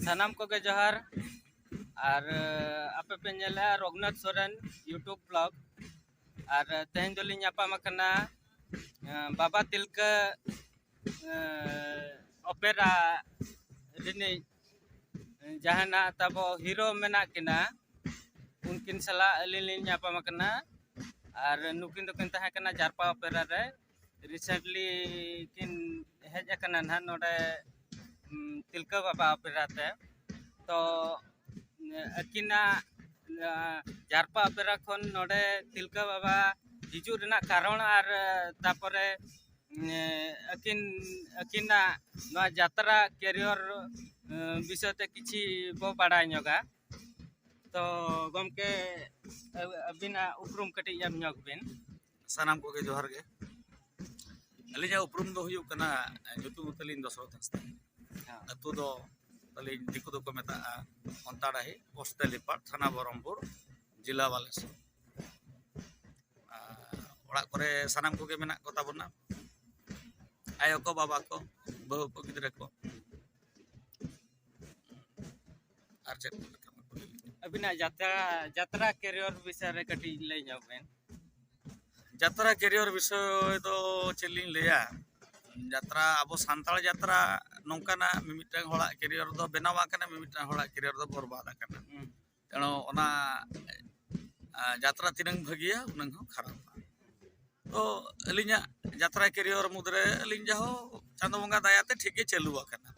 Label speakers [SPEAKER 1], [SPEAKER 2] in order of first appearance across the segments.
[SPEAKER 1] ᱥᱟᱱᱟᱢ ᱠᱚᱜᱮ ᱡᱚᱦᱟᱨ ᱟᱨ ᱟᱯᱮ ᱯᱮ ᱧᱮᱞᱟ ᱨᱚᱜᱷᱩᱱᱟᱛᱷ ᱥᱚᱨᱮᱱ ᱤᱭᱩᱴᱩᱵᱽ ᱵᱞᱚᱜ ᱟᱨ ᱛᱮᱦᱮᱧ ᱫᱚᱞᱤᱧ ᱧᱟᱯᱟᱢ ᱟᱠᱟᱱᱟ ᱵᱟᱵᱟ ᱛᱤᱞᱠᱟᱹ ᱚᱯᱮᱨᱟ ᱨᱤᱱᱤᱡ ᱡᱟᱦᱟᱱᱟᱜ ᱛᱟᱵᱚ ᱦᱤᱨᱳ ᱢᱮᱱᱟᱜ ᱠᱤᱱᱟ ᱩᱱᱠᱤᱱ ᱥᱟᱞᱟᱜ ᱟᱹᱞᱤᱧ ᱞᱤᱧ ᱧᱟᱯᱟᱢ ᱟᱠᱟᱱᱟ ᱟᱨ ᱱᱩᱠᱤᱱ ᱫᱚᱠᱤᱱ ᱛᱟᱦᱮᱸ ᱠᱟᱱᱟ ᱡᱟᱨᱯᱟ ᱚᱯᱮᱨᱟ ᱨᱮ ᱨᱤᱥᱮᱱᱴᱞᱤ ᱠᱤᱱ ᱦᱮᱡ ᱟᱠᱟᱱᱟ ᱱᱟᱦᱟᱜ ᱱᱚᱰᱮ ᱛᱤᱞᱠᱟᱹ ᱵᱟᱵᱟ ᱚᱯᱮᱨᱟ ᱛᱮ ᱛᱚ ᱟᱹᱠᱤᱱᱟᱜ ᱡᱟᱨᱯᱟ ᱚᱯᱮᱨᱟ ᱠᱷᱚᱱ ᱱᱚᱰᱮ ᱛᱤᱞᱠᱟᱹ ᱵᱟᱵᱟ ᱦᱤᱡᱩᱜ ᱨᱮᱱᱟᱜ ᱠᱟᱨᱚᱱ ᱟᱨ ᱛᱟᱯᱚᱨᱮ ᱟᱹᱠᱤᱱ ᱟᱹᱠᱤᱱᱟᱜ ᱱᱚᱣᱟ ᱡᱟᱛᱨᱟ ᱠᱮᱨᱤᱭᱚᱨ ᱵᱤᱥᱚᱭ ᱛᱮ ᱠᱤᱪᱷᱤ ᱵᱚ ᱵᱟᱲᱟᱭ ᱧᱚᱜᱟ ᱛᱚ ᱜᱚᱢᱠᱮ ᱟᱹᱵᱤᱱᱟᱜ ᱩᱯᱨᱩᱢ ᱠᱟᱹᱴᱤᱡ ᱮᱢ ᱧᱚᱜ ᱵᱤᱱ ᱥᱟᱱᱟᱢ ᱠᱚᱜᱮ
[SPEAKER 2] ᱡᱚᱦᱟᱨ ᱜᱮ ᱟᱹᱞᱤᱧᱟᱜ ᱩᱯᱨᱩᱢ ᱫᱚ ᱦᱩᱭᱩᱜ ᱠᱟᱱᱟ ᱧᱩᱛᱩᱢ ᱛᱟᱹᱞᱤᱧ ᱫᱚᱥᱚᱨᱚᱛᱷ ᱦᱟᱸᱥᱫᱟ ᱟᱹᱛᱩ ᱫᱚ ᱛᱟᱹᱞᱤᱧ ᱫᱤᱠᱩ ᱫᱚᱠᱚ ᱢᱮᱛᱟᱜᱼᱟ ᱚᱱᱛᱟᱰᱟᱦᱤ ᱯᱳᱥᱴ ᱛᱮᱞᱤᱯᱟᱲ ᱛᱷᱟᱱᱟ ᱵᱚᱦᱚᱨᱚᱢᱯᱩᱨ ᱡᱮᱞᱟ ᱵᱟᱞᱮᱥᱚᱨ ᱚᱲᱟᱜ ᱠᱚᱨᱮ ᱥᱟᱱᱟᱢ ᱠᱚᱜᱮ ᱢᱮᱱᱟᱜ ᱠᱚᱛᱟ ᱵᱚᱱᱟ ᱟᱭᱳ ᱠᱚ ᱵᱟᱵᱟ ᱠᱚ ᱵᱟᱹᱦᱩ ᱠᱚ ᱜᱤᱫᱽᱨᱟᱹ ᱠᱚ ᱟᱨ ᱪᱮᱫ ᱟᱹᱵᱤᱱᱟᱜ
[SPEAKER 1] ᱡᱟᱛᱨᱟ ᱡᱟᱛᱨᱟ ᱠᱮᱨᱤᱭᱚᱨ ᱵᱤᱥᱚᱭ ᱨᱮ ᱠᱟᱹᱴᱤᱡ ᱞᱟᱹᱭ ᱧᱚᱜ ᱵᱮᱱ
[SPEAKER 2] ᱡᱟᱛᱨᱟ ᱠᱮᱨᱤᱭᱚᱨ ᱵᱤᱥᱚᱭ ᱫᱚ ᱪᱮᱫ ᱞᱤᱧ ᱞᱟᱹᱭᱟ ᱡᱟᱛᱨᱟ ᱟᱵᱚ ᱥᱟᱱᱛᱟᱲ ᱡᱟᱛᱨᱟ ᱱᱚᱝᱠᱟᱱᱟᱜ ᱢᱤᱢᱤᱫᱴᱟᱝ ᱦᱚᱲᱟᱜ ᱠᱮᱨᱤᱭᱚᱨ ᱫᱚ ᱵᱮᱱᱟᱣ ᱟᱠᱟᱱᱟ ᱢᱤᱢᱤᱫᱴᱟᱝ ᱦᱚᱲᱟᱜ ᱠᱮᱨᱤᱭᱚᱨ ᱫᱚ ᱵᱚᱨᱵᱟᱫ ᱟᱠᱟᱱᱟ ᱛᱮᱬᱚ ᱚᱱᱟ ᱡᱟᱛᱨᱟ ᱛᱤᱱᱟᱹᱝ ᱵᱷᱟᱹᱜᱤᱭᱟ ᱩᱱᱟᱹᱝ ᱦᱚᱸ ᱠᱷᱟᱨᱟᱯᱟ ᱛᱚ ᱟᱹᱞᱤᱧᱟᱜ ᱡᱟᱛᱨᱟ ᱠᱮᱨᱤᱭᱚᱨ ᱢᱩᱫᱽᱨᱮ ᱟᱹᱞᱤᱧ ᱡᱟᱦᱳ ᱪᱟᱸᱫᱚ ᱵᱚᱸᱜᱟ ᱫᱟᱭᱟᱛᱮ ᱴᱷᱤᱠ ᱜᱮ ᱪᱟᱹᱞᱩ ᱟᱠᱟᱱᱟ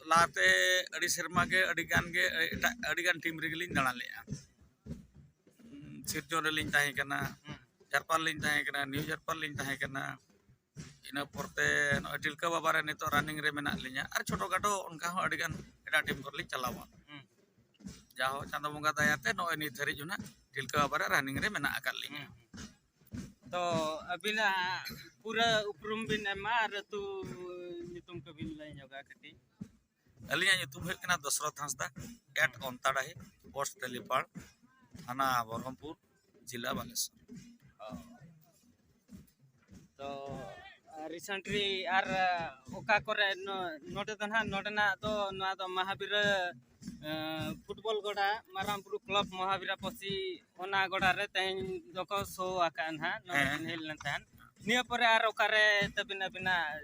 [SPEAKER 2] ᱞᱟᱦᱟᱛᱮ ᱟᱹᱰᱤ ᱥᱮᱨᱢᱟ ᱜᱮ ᱟᱹᱰᱤ ᱜᱟᱱ ᱜᱮ ᱮᱴᱟᱜ ᱟᱹᱰᱤ ᱜᱟᱱ ᱴᱤᱢ ᱨᱮᱜᱮ ᱞᱤᱧ ᱫᱟᱬᱟ ᱞᱮᱜᱼᱟ ᱥᱤᱨᱡᱚᱱ ᱨᱮᱞᱤᱧ ᱛᱟᱦᱮᱸ ᱠᱟᱱᱟ ᱡᱟᱨᱯᱟᱞ ᱞᱤᱧ ᱛᱟᱦᱮᱸ ᱠᱟᱱᱟ ᱱᱤᱭᱩ ᱡᱟᱨᱯᱟᱞ ᱞᱤᱧ ᱛᱟᱦᱮᱸ ᱠᱟᱱᱟ ᱤᱱᱟᱹ ᱯᱚᱨᱛᱮ ᱱᱚᱜᱼᱚᱭ ᱛᱤᱞᱠᱟᱹ ᱵᱟᱵᱟ ᱨᱮ ᱱᱤᱛᱚᱜ ᱨᱟᱱᱤᱝ ᱨᱮ ᱢᱮᱱᱟᱜ ᱞᱤᱧᱟᱹ ᱟᱨ ᱪᱷᱳᱴᱳ ᱠᱷᱟᱴᱳ ᱚᱱᱠᱟ ᱦᱚᱸ ᱟᱹᱰᱤᱜᱟᱱ ᱮᱴᱟᱜ ᱴᱤᱢ ᱠᱚᱨᱮ ᱞᱤᱧ ᱪᱟᱞᱟᱣᱟ ᱡᱟᱦᱳ ᱪᱟᱸᱫᱚ ᱵᱚᱸᱜᱟ ᱫᱟᱭᱟᱛᱮ ᱱᱚᱜᱼᱚᱭ ᱱᱤᱛ ᱫᱷᱟᱹᱨᱤᱡ ᱦᱚᱸ ᱱᱟᱜ ᱛᱤᱞᱠᱟᱹ ᱵᱟᱵᱟ ᱨᱮ ᱨᱟᱱᱤᱝ ᱨᱮ ᱢᱮᱱᱟᱜ ᱟᱠᱟᱫ ᱞᱤᱧᱟᱹ ᱛᱚ
[SPEAKER 1] ᱟᱹᱵᱤᱱᱟᱜ ᱯᱩᱨᱟᱹ ᱩᱯᱨᱩᱢ ᱵᱤᱱ ᱮᱢᱟ ᱟᱨ ᱟᱹᱛᱩ ᱧᱩᱛᱩᱢ ᱠᱚᱵᱤᱱ ᱞᱟᱹᱭ ᱧᱚᱜᱟ ᱠᱟᱹᱴᱤᱡ ᱟᱹᱞᱤᱧᱟᱜ
[SPEAKER 2] ᱧᱩᱛᱩᱢ ᱦᱩᱭᱩᱜ ᱠᱟᱱᱟ ᱫᱚᱥᱨᱚᱛᱷ ᱦᱟᱸᱥᱫᱟ ᱮᱴ ᱚᱱᱛᱟᱰᱟᱦᱤ ᱯᱳᱥᱴ ᱛᱮᱞᱤᱯᱟᱲ ᱛᱷᱟᱱᱟ ᱵᱚᱨᱦᱚᱢᱯᱩᱨ ᱡᱮᱞᱟ ᱵᱟᱞᱮᱥᱚᱨ
[SPEAKER 1] ᱛᱚ ᱨᱤᱥᱮᱱᱴᱞᱤ ᱟᱨ ᱚᱠᱟ ᱠᱚᱨᱮ ᱱᱚᱰᱮ ᱫᱚ ᱱᱟᱦᱟᱜ ᱱᱚᱰᱮᱱᱟᱜ ᱫᱚ ᱱᱚᱣᱟ ᱫᱚ ᱢᱟᱦᱟᱵᱤᱨᱟ ᱯᱷᱩᱴᱵᱚᱞ ᱜᱚᱰᱟ ᱢᱟᱨᱟᱝ ᱵᱩᱨᱩ ᱠᱞᱚᱵ ᱢᱚᱦᱟᱵᱤᱨᱟ ᱯᱚᱥᱤ ᱚᱱᱟ ᱜᱚᱰᱟ ᱨᱮ ᱛᱮᱦᱮᱧ ᱫᱚᱠᱚ ᱥᱳ ᱟᱠᱟᱫᱼᱟ ᱱᱟᱦᱟᱜ ᱱᱚᱰᱮ ᱦᱮᱡ ᱞᱮᱱ ᱛᱟᱦᱮᱸᱫ ᱱᱤᱭᱟᱹ ᱯᱚᱨᱮ ᱟᱨ ᱚᱠᱟᱨᱮ ᱛᱟᱹᱵᱤᱱ ᱟᱹᱵᱤᱱᱟᱜ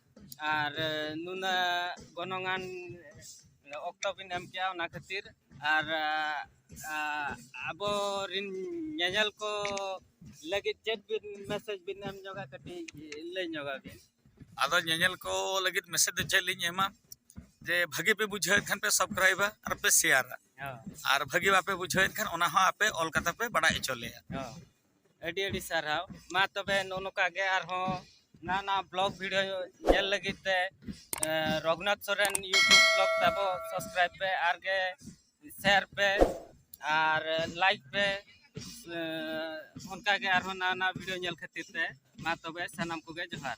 [SPEAKER 1] ᱟᱨ ᱱᱩᱱᱟᱹᱜ ᱜᱚᱱᱚᱝ ᱟᱱ ᱚᱠᱛᱚ ᱵᱤᱱ ᱮᱢ ᱠᱮᱜᱼᱟ ᱚᱱᱟ ᱠᱷᱟᱹᱛᱤᱨ ᱟᱨ ᱟᱵᱚ ᱨᱤᱱ ᱧᱮᱧᱮᱞ ᱠᱚ ᱞᱟᱹᱜᱤᱫ ᱪᱮᱫ ᱵᱤᱱ ᱢᱮᱥᱮᱡᱽ ᱵᱤᱱ ᱮᱢ ᱧᱚᱜᱟ ᱠᱟᱹᱴᱤᱡ ᱞᱟᱹᱭ ᱧᱚᱜᱟ ᱵᱤᱱ ᱟᱫᱚ ᱧᱮᱧᱮᱞ
[SPEAKER 2] ᱠᱚ ᱞᱟᱹᱜᱤᱫ ᱢᱮᱥᱮᱡᱽ ᱫᱚ ᱪᱮᱫ ᱞᱤᱧ ᱮᱢᱟ ᱡᱮ ᱵᱷᱟᱹᱜᱤ ᱯᱮ ᱵᱩᱡᱷᱟᱹᱣᱮᱫ ᱠᱷᱟᱱ ᱯᱮ ᱥᱟᱵᱥᱠᱨᱟᱭᱤᱵᱟ ᱟᱨ ᱯᱮ ᱥᱮᱭᱟᱨᱟ ᱟᱨ ᱵᱷᱟᱹᱜᱤ ᱵᱟᱯᱮ ᱵᱩᱡᱷᱟᱹᱣᱮᱫ ᱠᱷᱟᱱ ᱚᱱᱟ ᱦᱚᱸ ᱟᱯᱮ ᱚᱞ ᱠᱟᱛᱮ ᱯᱮ ᱵᱟᱲᱟᱭ ᱦᱚᱪᱚ ᱞᱮᱭᱟ ᱟᱹᱰᱤ
[SPEAKER 1] ᱟᱹᱰᱤ ᱥᱟᱨᱦᱟᱣ ᱢᱟ ᱛᱚᱵᱮ ᱱᱚᱜᱼᱚ ᱱᱚᱝᱠᱟ ᱜᱮ ᱟᱨᱦᱚᱸ ᱱᱟᱣᱟ ᱱᱟᱣᱟ ᱵᱞᱚᱜ ᱵᱷᱤᱰᱤᱭᱳ ᱧᱮᱞ ᱞᱟᱹᱜᱤᱫ ᱛᱮ ᱨᱚᱜᱷᱩᱱᱟᱛᱷ ᱥᱚᱨᱮᱱ ᱤᱭᱩᱴᱩᱵᱽ ᱵᱞᱚᱜ ᱛᱟᱵᱚ ᱥᱟᱵᱥᱠᱨᱟᱭᱤᱵᱽ ᱯᱮ ᱟᱨ ᱜᱮ ᱥᱮᱭᱟᱨ ᱯᱮ ᱟᱨ ᱞᱟᱭᱤᱠ ᱯᱮ ᱚᱱᱠᱟ ᱜᱮ ᱟᱨᱦᱚᱸ ᱱᱟᱣᱟ ᱱᱟᱣᱟ ᱵᱷᱤᱰᱤᱭᱳ ᱧᱮᱞ ᱠᱷᱟᱹᱛᱤᱨ ᱛᱮ ᱢᱟ ᱛᱚᱵᱮ ᱥᱟᱱᱟᱢ ᱠᱚᱜᱮ ᱡᱚᱦᱟᱨ